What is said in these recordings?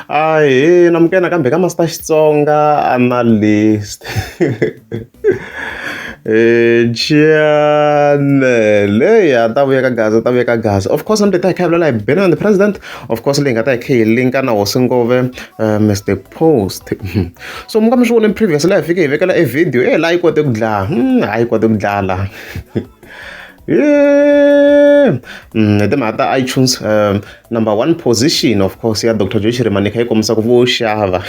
Ahee Namke nakambe ka Master Xitsonga Analyst Chianele ya ta vuya ka Gaza ta vuya ka Gaza of course nambe ta hi kha vulela hi Benoni the president of course leyi nga ta hi kha hi linka na hosi ngove eh, Mr Post so mi nga mi swi vone previous la hi fike hi vekela e video e la yi kote ku dlaya hmm, ha yi kote ku dlaya la Mm, the matter iTunes um, number one position of course ya Dr. Joy Shirimanika yi kombisa ku vo xava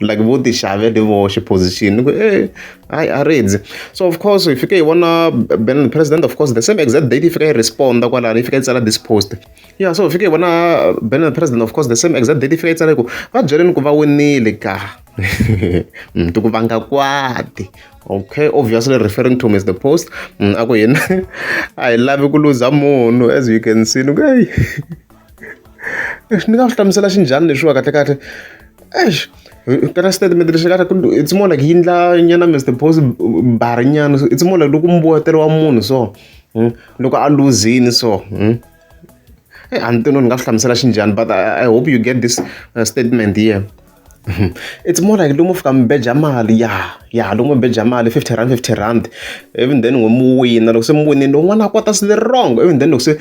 like vo ti xavele voxe position ku eh hayi a ridzi so of course hi fike hi vona ben president of course the same exact date yi fika yi responda kwalani yi fika yi tsala this post yeah so hi fike hi vona ben president of course the same exact date yi fika yi tsala ku va byeleni ku va winile ka mm, ti ku vanga kwati okay obviously referring to mr post mm, a ku yena a hi lavi ku luza munhu as you can see ni ku eyi ni nga swi hlamusela xinjhani leswiwa kahle kahle eish kana statement lexi kahle it's more like yindla nyana mr post bari nyana it's more like loko mbuwetelo wa munhu so mm, loko a luzini so mm. eh, a ni tino ni nga swi hlamusela xinjhani but I, i hope you get this uh, statement here It's more like lomu fika mi beja mali ya ya lomu mi beja mali fifty rand fifty rand ivi then n'wina mi wina loko se mi winile lowun'wana a kota swilo wrong ivi then loko se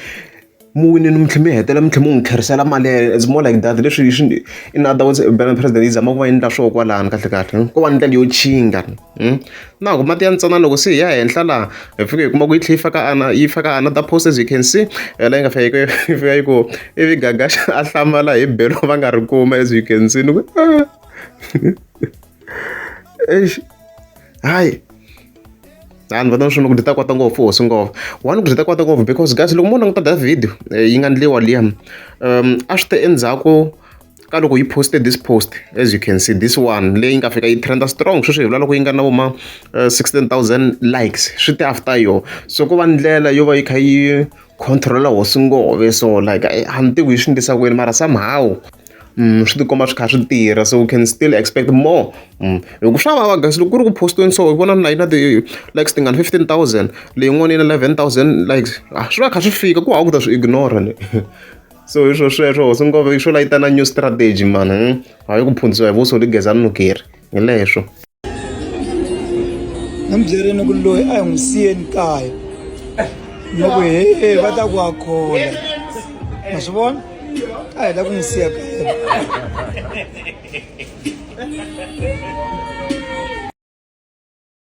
mi winile mi tlhela mi hetelela mi tlhela mi n'wi tlherisela mali ya yena it's more like that leswi swi in other words president yi zama ku va yi endla swoho kwalano kahlekahle ko va ndlela yo tshinga . na ku mati ya ntsana loko se hi ya henhla laha hi fike hi kuma ku yi tlhe yi faka ana yi faka ana ta post as you can see eh, la yi nga fika yi fika yi ku ivi gagaxa a hlamala hi belo va nga ri kuma as you can see ni ku ah. eish hayi hayi ni vona swona ku ti ta kota ngopfu hosi ngopfu one ku ti ta kota ngopfu because guys loko mo languta da video eh, yi nga ndliwa liya um a swi te endzhaku ka loko yi poste this post as you can see this one leyi nga fika yi trenda strong sweswi hi vula loko yi nga na voma eh, 16000 likes swi te after yo so ko va ndlela yo va yi kha yi controla hosi ngove so like eh, a ni tivi yi swi ndlisa kwini mara somehow Mm, swi tikomba swi kha swi tirha so we can still expect more mm. hi ku swa vava guys loko ku ri ku postiweni so hi vona na yina ti-likes tingani 15 000 leyin'wana yi na 11 000 likes ah, swi va kha swi fika ku hava ku ta swi ignora ni so hi swo sweswo hosi ngove yi swo la yi ta na new strategy mani hmm? a yi ku phundzisiwa hi vuso ligeza ni nukeri hi leswo ni mi byerini ku loyi a hi n'wi siyeni kaya loko he va ta ku a khola ma swi vona a hi la ku n'wi siya kaya